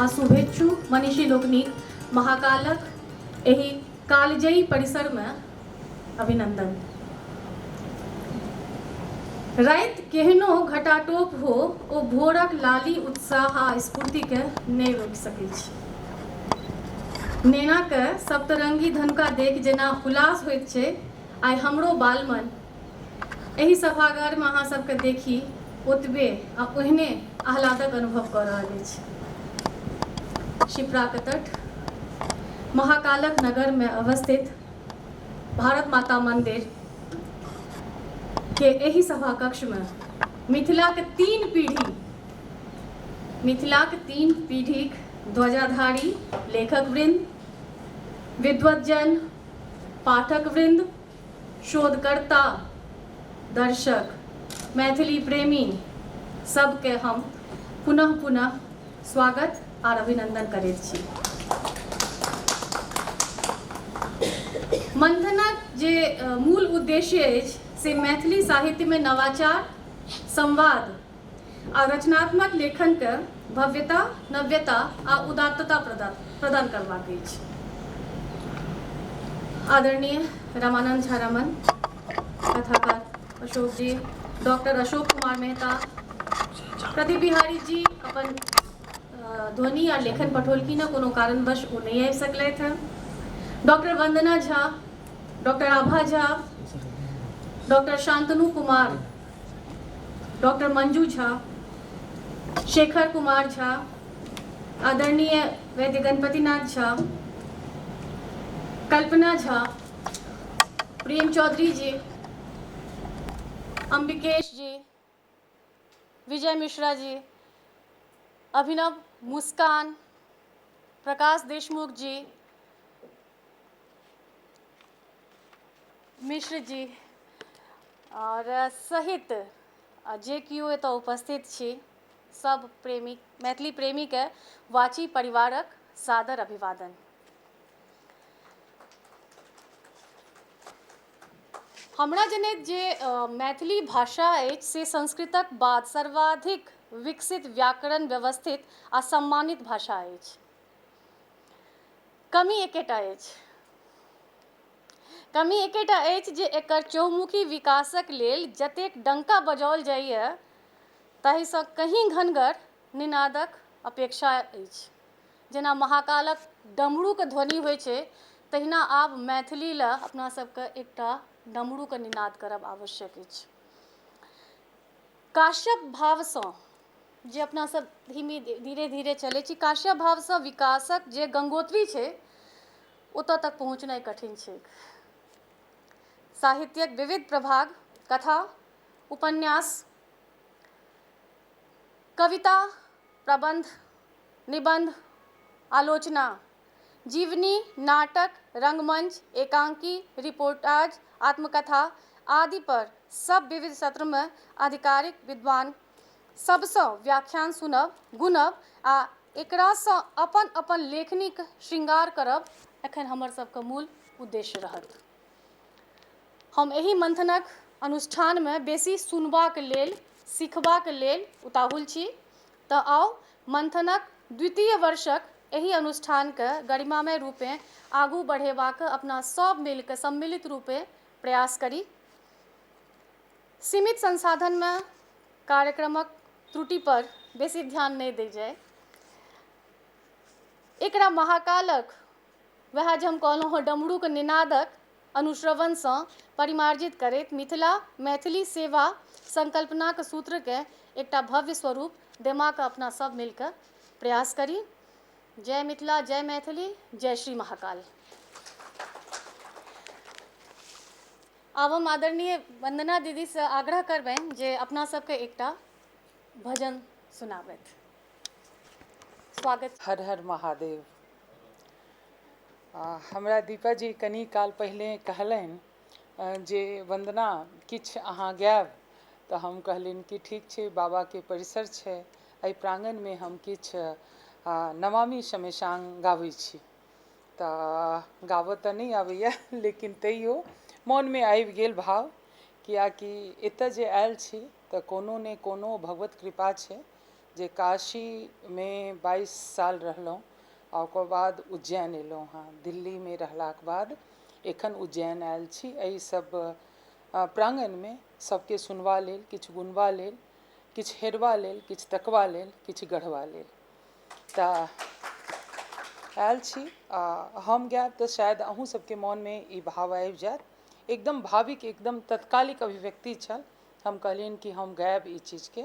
आ शुभेच्छु मनीषी लोकनिक महाकालक एहि कालजयी परिसरमे अभिनंदन राति केहनो घटाटोप हो ओ भोरक लाली उत्साह आ स्फूर्तिके नहि रोकि सकैत छी नेनाके सप्तरंगी धनुका देख जेना हुलास होइत छै आइ हमरो बालमन एहि सभागारमे अहाँ सबके देखी ओतबे आ ओहने आह्लादक अनुभव कऽ रहल अछि शिप्राक तट महाकालक नगरमे अवस्थित भारत माता मंदिर के एहि सभा कक्ष में मिथिला के तीन पीढ़ी मिथिला के तीन पीढ़ी ध्वजाधारी लेखक वृंद विद्वजन पाठक वृंद शोधकर्ता दर्शक मैथिली प्रेमी सबके हम पुनः पुनः स्वागत आर अभिनंदन करैत छी मंथनक जे मूल उद्देश्य अछि से मैथिली साहित्यमे नवाचार संवाद आ रचनात्मक लेखनके भव्यता नव्यता आ उदात्तता प्रदान प्रदान करबाक अछि आदरणीय रामानंद झा रमन कथाकार अशोक जी डॉक्टर अशोक कुमार मेहता प्रदीप बिहारी जी अपन ध्वनि आ लेखन पठौलखिन हँ कोनो कारणवश ओ नहि आबि सकलथि हँ doctor Vandana Jha doctor Abha Jha doctor Shantanu Kumar doctor Manju Jha Shekhar Kumar Jha आदरणीय वैद्य गणपतिनाथ झा कल्पना झा प्रेम चौधरी जी अंबिकेश जी विजय मिश्रा जी अभिनव मुस्कान प्रकाश देशमुख जी मिश्र जी आओर सहित जे केओ एतऽ उपस्थित छी सब प्रेमी मैथिली प्रेमीके वाची परिवारक सादर अभिवादन हमरा जनैत जे मैथिली भाषा अछि से संस्कृतक बाद सर्वाधिक विकसित व्याकरण व्यवस्थित आ सम्मानित भाषा अछि कमी एकेटा अछि कमी एकेटा अछि जे एकर चौमुखी विकासक लेल जतेक डंका बजाओल जाइए ताहिसँ कहीं घनगर निनादक अपेक्षा अछि जेना महाकालक डमरूके ध्वनि होइ छै तहिना आब मैथिली लए अपना सबके एकटा डमरूके निनाद करब आवश्यक अछि काश्यप भावसँ जे अपना सब धीमे धीरे धीरे चलै छी काश्यप भावसँ विकासक जे गंगोत्री छै ओतऽ तक पहुँचनाइ कठिन छै साहित्यक विविध प्रभाग कथा उपन्यास कविता प्रबन्ध, निबन्ध, आलोचना, जीवनी, नाटक, रंगमंच, एकांकी, रिपोर्टाज, आत्मकथा आदि पर सब विविध सत्र मे आधिकारिक विद्वान सब सँ व्याख्यान सुनब, गुनब आ एकरा सँ अपन-अपन लेखनीक शृंगार करब एखन हमर सब क मूल उद्देश्य रहत। हम एहि मन्थनक अनुष्ठानमे बेसी सुनबाक लेल सिखबाक लेल उताहुल छी तँ आउ मन्थनक द्वितीय वर्षक एहि अनुष्ठानकेँ गरिमामय रूपेँ आगू बढ़ेबाक अपना सभ मिलि कऽ सम्मिलित रूपेँ प्रयास करी। सीमित संसाधनमे कार्यक्रमक त्रुटिपर बेसी ध्यान नहि देल जाय। एकरा महाकालक। वएह जे हम कहलहुँ हँ डमरूक निनादक अनुश्रवणसँ परिमार्जित करैत मिथिला मैथिली सेवा संकल्पनाक सूत्रकेँ एकटा भव्य स्वरूप देमाक अपना सभ मिलकऽ प्रयास करी। जय मिथिला, जय मैथिली, जय श्री महाकाल। आब हम आदरणीय वन्दना दीदीसँ आग्रह करबनि जे अपना सभकेँ एकटा भजन सुनाबथि। स्वागत छै हर हर महादेव आ हमरा दीपा जी कनि काल पहिनेे कहलनि जे वन्दना किछु अहाँ गायब तऽ हम कहलियनि कि ठीक छै बाबाके परिसर छै एहि प्राङ्गणमे हम किछु नमामि शमेशांग गाबै छी तऽ गाबऽ तऽ नहि आबैए लेकिन तैयो मोनमे आबि गेल भाव किएकि एतऽ जे आयल छी तऽ कोनो ने कोनो भगवत कृपा छै जे काशीमे बाइस साल रहलहुँ आ ओकर बाद उज्जैन एलहुँ हँ दिल्लीमे रहलाक बाद एखन उज्जैन आयल छी एहि सब प्राङ्गणमे सबके सुनबा लेल किछु गुनबा लेल किछु हेरबा लेल किछु तकबा लेल किछु गढ़बा लेल तऽ आयल छी आ हम गायब तऽ शायद अहूँ सबके मोनमे ई भाव आबि जायत एकदम भाविक एकदम तत्कालिक अभिव्यक्ति छल हम कहलियनि कि हम गायब ई चीजके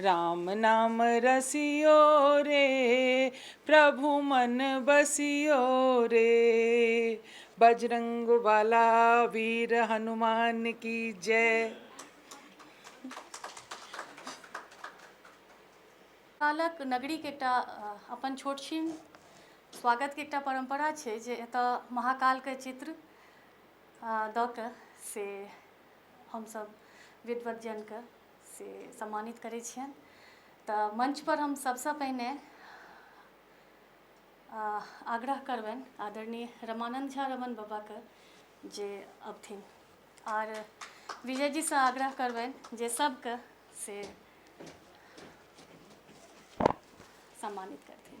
राम नाम रसियो रे प्रभु मन बसियो रे बजरंग वाला वीर हनुमान की जय कालक नगरीके एकटा अपन छोट छिन स्वागतके एकटा परम्परा छै जे एतऽ महाकालके चित्र दऽ कऽ से हमसब विद्वत जनके से सम्मानित करै छियनि तऽ मंच पर हम सबसँ पहिने आग्रह करबनि आदरणीय रमानन्द झा रमन बाबाके जे अबथिन आर विजयजीसँ आग्रह करबनि जे सबके से सम्मानित करथिन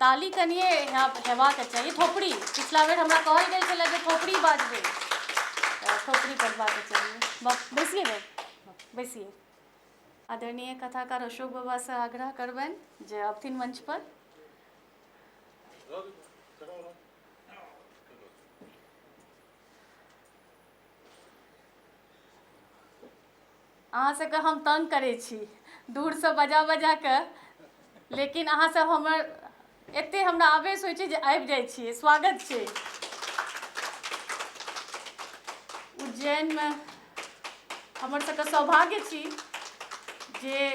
ताली कनिए हेबाक चाही थोपड़ी पिछला बेर हमरा कहल गेल छलै जे थोपड़ी बाजबै थोपड़ी बजबाक चाही बैसिए ने बैसिए आदरणीय कथाकार अशोक बाबा से आग्रह करबन जे अबथिन मंच पर अहाँ सभके हम तंग करै छी दूरसँ बजा बजा कऽ लेकिन अहाँ सभ हमर एते हमरा आवेश होइ छै जे आबि जाइ छियै स्वागत छै उज्जैनमे हमर सभके सौभाग्य छी जे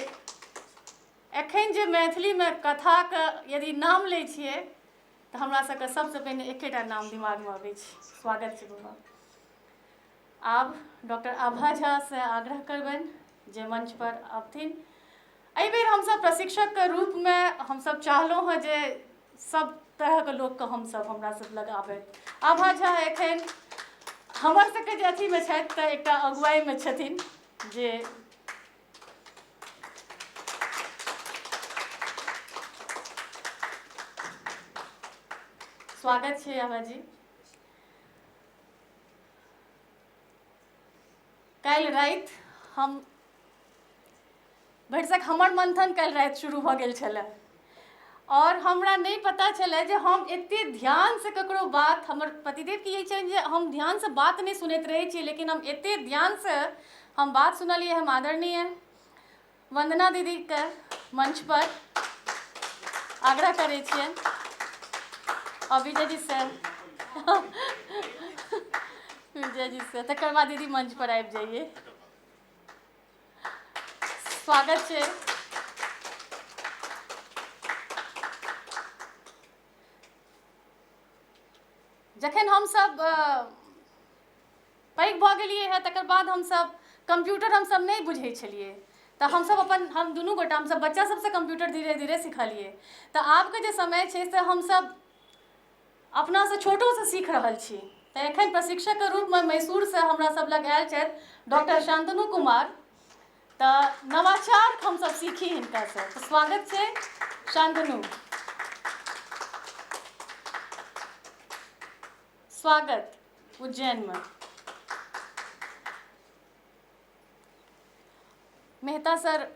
एखन जे मैथिलीमे कथाके यदि नाम लै छियै तऽ हमरा सभके सभसँ पहिने एकेटा नाम दिमागमे अबै छै स्वागत छै बाबा आब डॉक्टर आभा झासँ आग्रह करबनि जे मञ्चपर अबथिन एहिबेर हमसभ प्रशिक्षकके रूपमे हमसभ चाहलहुँ हँ जे सभ तरहके लोकके हमसभ हमरा सभ लग आबय आभा झा एखन हमर सभके जे अथीमे छथि तऽ एकटा अगुवाइमे छथिन जे स्वागत छै आभा जी काल्हि राति हम भरिसक हमर मन्थन काल्हि राति शुरू भऽ गेल छलए आओर हमरा नहि पता छलए जे हम एतेक ध्यानसँ ककरो बात हमर पतिदेवके ई छनि जे हम ध्यानसँ बात नहि सुनैत रहैत छियै लेकिन हम एतेक ध्यानसँ हम बात सुनलियै हम आदरणीय वंदना दीदी के मंच पर आग्रह करै छियै और विजय जी से विजय जी से तकर बाद दीदी मंच पर आबि जाइए स्वागत छै जखन हमसभ पैघ भऽ गेलियै हँ तकर बाद हमसभ कम्प्यूटर हमसभ नहि बुझै छलियै तऽ हमसभ अपन हम दुनू गोटा हमसभ बच्चा सभसँ कम्प्यूटर धीरे धीरे सिखलियै तऽ आबके जे समय छै से हमसभ अपनासँ छोटोसँ सीख रहल छी तऽ एखन प्रशिक्षकके रूपमे मैसूरसँ हमरा सभ लग आयल छथि डॉक्टर शान्तनु कुमार तऽ नवाचार हमसभ सीखी हिनकासँ तऽ स्वागत छै शान्तनु स्वागत उज्जैन मे मेहता सर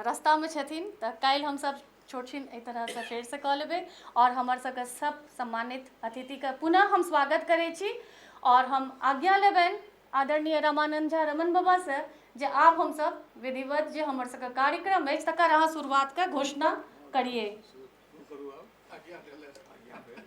रस्ता मे छथिन तऽ काल्हि हमसभ छोट छीन एहि तरहसँ फेरसँ कऽ लेबै आओर हमर सभके सभ सम्मानित अतिथिके पुनः हम स्वागत करै छी आओर हम आज्ञा लेबनि आदरणीय रामानन्द झा रमन बाबासँ जे आब हमसभ विधिवत जे हमर सभके कार्यक्रम अछि तकर अहाँ शुरुआतके घोषणा करियै